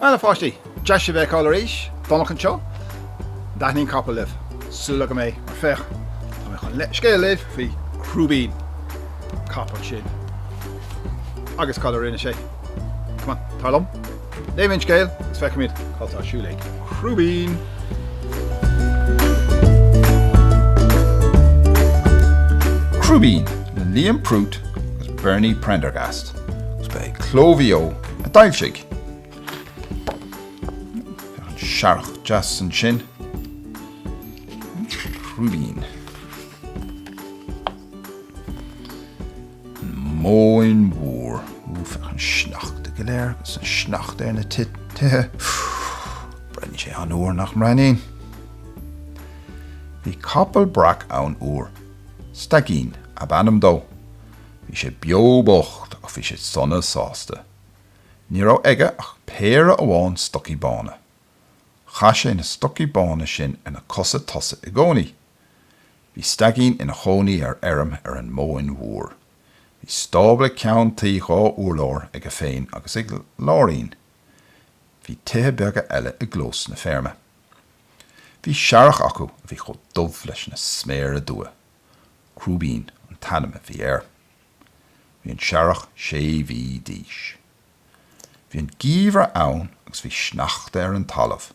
Bhuel, a pháistí, deas sibh a fheiceáil arís Domhnach anseo. An dtaitníonn capaill libh? Súil agam é, mar féach, tá mé chun scéal a léamh faoi Chrúibín, capall sin, agus cad a rinne sé. Come on, tar liom. Léimis an scéal agus feicfimid cad tá ar siúl ag Crúibín! Crúibín le Liam Prút agus Bernie Prendergast agus ba é Cló Mhaigh Eo a d'fhoilsigh. Searrach deas ansin. Crúibín. An Móin Mhór, Ooh, féach an sneachta go léir agus an sneachta ar na tithe, ooh, breathnaíonn sé an-fhuar, nach mbreathnaíonn? Bhí capall breac ann uair, Staigín ab ainm dó. Bhí sé beo bocht ach bhí sé sona sásta. Ní raibh aige ach péire amháin stocaí bána. Chaith sé na stocaí bána sin ar na cosa tosaigh i gcónaí, Bhí Staigín ina chónaí ar fheirm ar an Móin Mhór. Bhí stábla ceann tuí dhá urlár aige féin agus ag Láirín. Bhí tithe beaga eile i gclós na feirme. Bhí searrach acu a bhí chomh dubh leis na sméara dubha. Crúibín an t-ainm a bhí air. Bhí an searrach sé mhí d'aois. Bhí an geimhreadh ann agus bhí sneachta ar an talamh,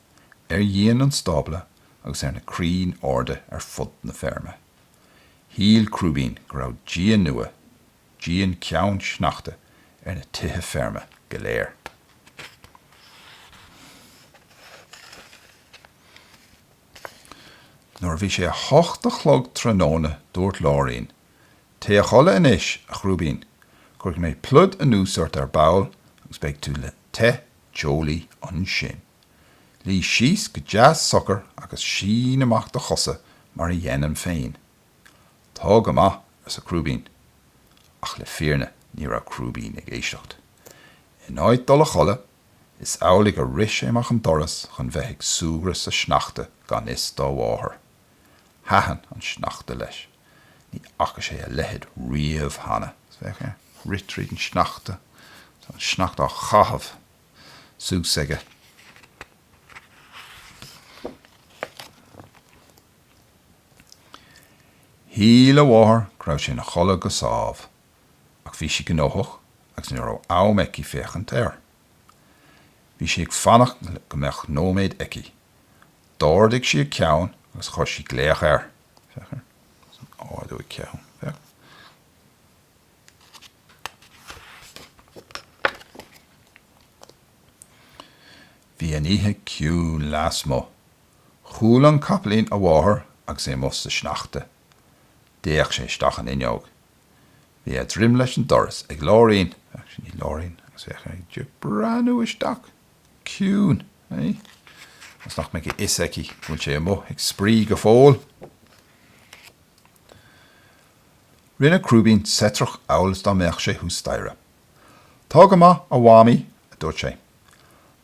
ar dhíon an stábla agus ar na crainn arda ar fud na feirme. Shíl Crúibín go raibh díon nua, díon ceann sneachta, ar na tithe feirme go léir. Nuair a bhí sé a hocht a chlog tráthnóna dúirt Láirín, Téigh a chodladh anois, a Chrúibín. Cuirfidh mé pluid anuas ort ar ball agus beidh tú te te teolaí ansin. Luí síos go deas socair agus sín amach do chosa mar a dhéanaim féin. Tá go maith, arsa Crúibín. Ach le fírinne ní raibh Crúibín ag éisteacht. In áit dul a chodladh, is amhlaidh a rith sé amach an doras chun bheith ag súgradh sa sneachta gan fhios dá mháthair. Thaitin an sneachta leis. Ní fhaca sé a leithéid riamh cheana. Féach air. Ag rith tríd an sneachta. Tá an sneachta á chaitheamh suas aige. Shíl a mháthair go raibh sé ina chodladh go sámh, ach bhí sí gnóthach agus ní raibh am aici féachaint air. Bhí sí ag fanacht go mbeadh nóiméad aici. D'ardaigh sí a ceann agus chuir sí glaoch air. Féach uirthi ag ardú a ceann. Féach. Bhí an oíche ciúin lasmuigh. Chuala an capaillín a mháthair agus é amuigh sa sneachta. D'fhéach sé isteach an fhuinneog. Bhí a droim leis an doras ag Láirín, ach sin í Láirín, agus féach air ag breathnú isteach. Ciúin, ionas nach mbeadh a fhios aici go bhfuil sé amuigh ag spraoi go fóill. Rinne Crúibín seitreach amhail is dá mbeadh sé thuas staighre. Tá go maith, a Mhamaí, a dúirt sé.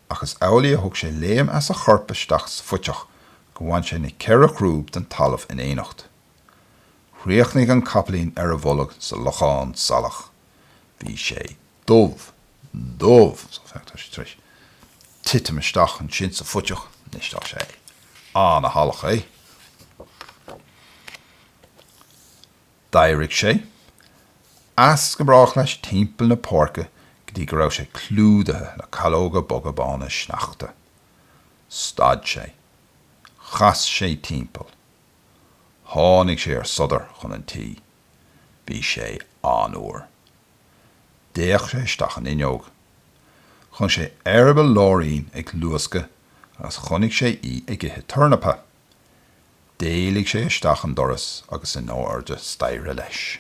Ach is amhlaidh a thug sé léim as a chorp isteach sa phuiteach gur bhain sé na ceithre chrúb den talamh in éineacht. Chríochnaigh an capaillín ar a bholg sa lochán salach. Bhí sé dubh, dubh, so féach, tá sé tar éis titim isteach ansin sa phuiteach anois, tá sé an-shalach é. D'éirigh sé as go brách leis timpeall na páirce go dtí go raibh sé clúdaithe le calóga boga bána sneachta. Stad sé. Chas sé timpeall. Tháinig sé ar sodar chun an tí. Bhí sé an-fhuar. D'fhéach sé isteach an fhuinneog. Chonaic sé eireaball Láirín ag luascadh agus chonaic sé í ag ithe tornapa. D'éalaigh sé isteach an doras agus in airde staighre leis.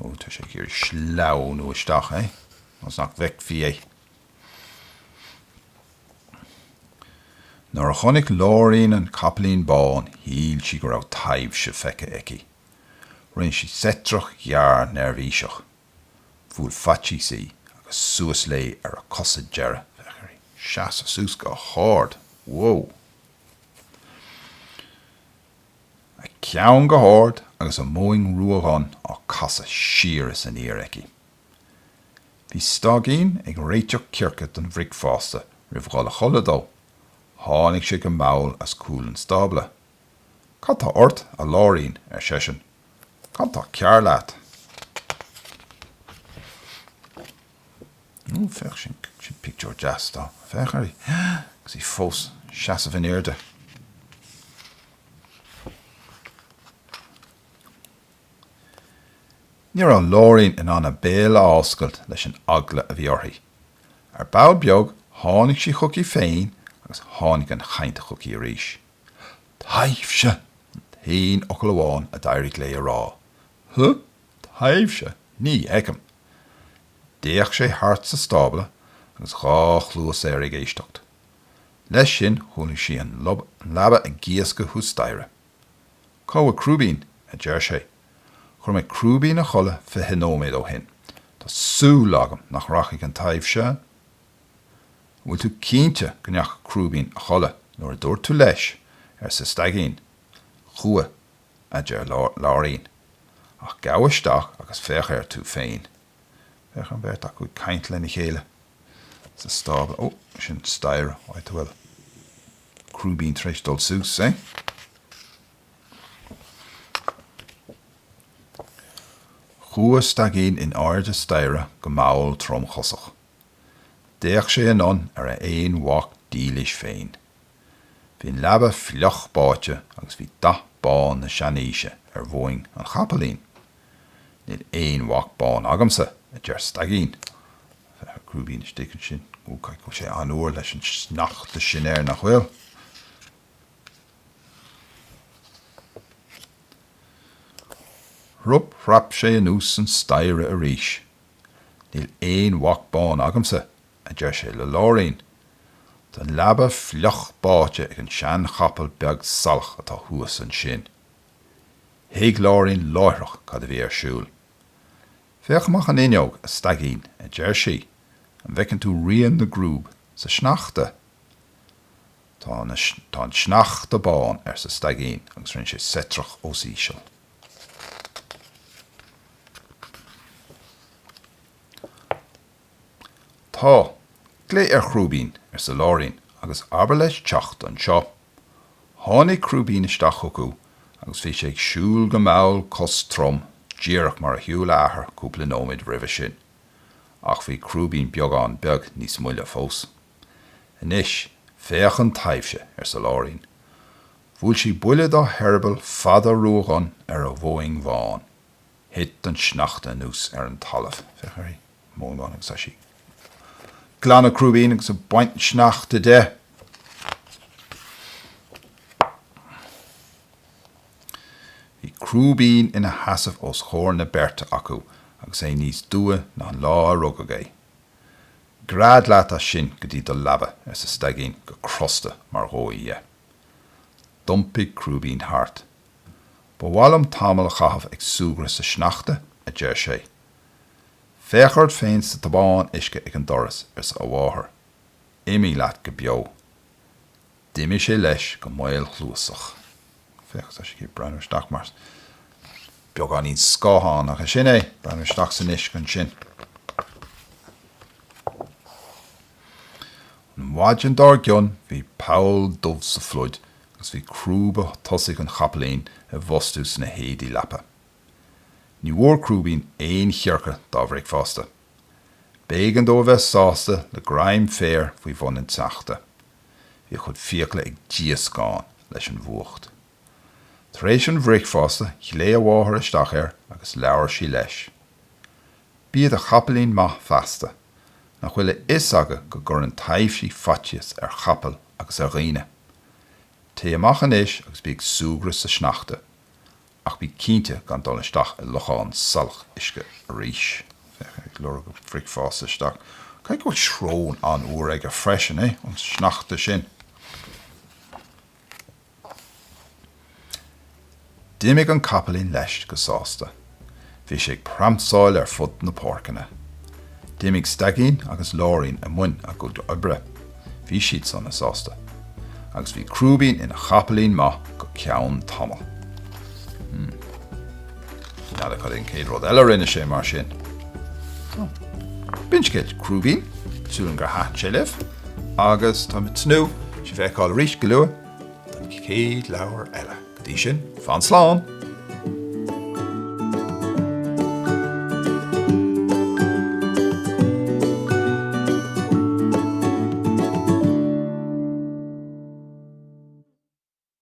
Ó, tá sé ag iarraidh sleamhnú isteach, ionas nach bhfeicfí é. Nuair a chonaic Láirín an capaillín bán, shíl sí go raibh taibhse feicthe aici. Rinne sí seitreach ghearr neirbhíseach. Bhuail faitíos í agus suas léi ar a cosa deiridh. Féach uirthi seasamh suas go hard. Whoa! A ceann go hard agus a moing ruadhonn á casadh siar is aniar aici. Bhí Staigín ag réiteach coirce don bhricfeasta roimh dhul a chodladh dó. Tháinig sé go mall as cúl an stábla. Cad tá ort, a Láirín? ar seisean. Cad tá cearr leat? Ó, féach sin, sin pictiúr deas dó. Féach air, agus í fós seasamh in airde. Ní raibh Láirín in ann a béal a fhoscailt leis an eagla a bhí uirthi. Ar ball beag, tháinig sí chuici féin agus tháinig an chaint chuici arís. Taibhse! an t-aon fhocal amháin a d'éirigh léi a rá. Huh? Taibhse? Ní fheicim. D'fhéach sé thart sa stábla agus dhá chluas air ag éisteacht. Leis sin, chualaidh sí an leaba ag gíoscadh thuas staighre. Cá bhfuil Crúibín? a deir sé. Chuir mé Crúibín a chodladh fiche nóiméad ó shin. Tá súil agam nach rachaidh an taibhse an bhfuil tú cinnte go ndeachaigh Crúibín a chodladh nuair a dúirt tú leis? arsa Staigín. Chuaigh, a deir Láirín. Ach gabh isteach agus féach air tú féin. Féach an bheirt acu ag caint lena chéile sa stábla. Ó, sin staighre. Áit a bhfuil Crúibín tar éis dul suas, eh? Chuaigh Staigín in airde staighre go mall tromchosach. D'fhéach sé anonn ar a aon mhac dílis féin. Bhí an leaba fliuch báite agus bhí dath bán na seanaoise ar mhuing an chapaillín. Níl aon mhac bán agamsa, a deir Staigín. Féach Crúibín istigh ansin. Ó, caithfidh go bhfuil sé an-fhuar leis an sneachta sin air, nach bhfuil? Thrup thrap sé anuas an staighre arís. Níl aon mhac bán agamsa, a deir sé le Láirín. Tá an leaba fliuch báite ag an seanchapall beag salach atá thuas ansin. Thuig Láirín láithreach cad a bhí ar siúl. Féach amach an fhuinneog, a Staigín, a deir sí, an bhfeiceann tú rian na gcrúb sa sneachta? Tá na, tá an sneachta bán, arsa Staigín agus rinne sé seitreach os íseal. Tá. Glaoigh ar Chrúibín, arsa Láirín, agus abair leis teacht anseo. Tháinig Crúibín isteach chucu agus bhí sé ag siúl go mall costrom díreach mar a shiúil a athair cúpla nóiméad roimhe sin. Ach bhí Crúibín beagán beag níos moille fós. Anois, féach an taibhse, arsa Láirín. Bhuail sí buille dá heireaball fada ruadhonn ar a mhuing bhán. Thit an sneachta anuas ar an talamh. Féach uirthi. Mong amháin agus tá sí ag glanadh Crúibín agus ag baint an sneachta de. Bhí Crúibín ina sheasamh os chomhair na beirte acu agus é níos duibhe ná an lá a rugadh é. Gread leat as sin go dtí do leaba, arsa Staigín go crosta mar dhóigh dhe. D'iompaigh Crúibín thart Ba mhaith liom tamall a chaitheamh ag súgradh sa sneachta, a deir sé. Féach ort féin sa tobán uisce ag an doras, arsa a mháthair. Imigh leat go beo. D'imigh sé leis go maolchluasach. Féach, tá sé ag breathnú isteach mar beagáinín scáthán, ach é sin é, breathnú isteach san uisce ansin. An mhaidin dár gcionn bhí poll dubh sa phluid agus bhí crúba tosaigh an chapaillín i bhfostú sna héadaí leapa. Ní bhfuair Crúibín aon choirce dá bhricfeasta. B'éigean dó a bheith sásta le greim féir faoi bhun an tsneachta. Bhí a chuid fiacla ag díoscán leis an bhfuacht. Tar éis an bhricfeasta ghlaoigh a mháthair isteach air agus labhair sí leis. Bí i do chapaillín maith feasta. Nach bhfuil a fhios agat go gcuireann taibhsí faitíos ar chapaill agus ar dhaoine. Téigh amach anois agus bí ag súgradh sa sneachta, ach bí cinnte gan dul isteach i lochán salach uisce arís. Féach air ag lorg a bhricfeasta isteach. Caithfidh go bhfuil srón an-fhuar aige freisin, eh, an sneachta sin. D'imigh an capaillín leis go sásta. Bhí sé ag pramsáil ar fud na páirceanna. D'imigh Staigín agus Láirín i mbun a gcuid oibre. Bhí siad sona sásta. Agus bhí Crúibín ina chapaillín maith go ceann tamaill. Hmm. N'fheadar cad é an céad rud eile a rinne sé mar sin? Ó. B'in scéal Crúibín, tá súil agam gur thaitn sé libh, agus tá mé ag tnúth sibh a fheiceáil arís go luath don chéad leabhar eile. Go dtí sin, fan slán!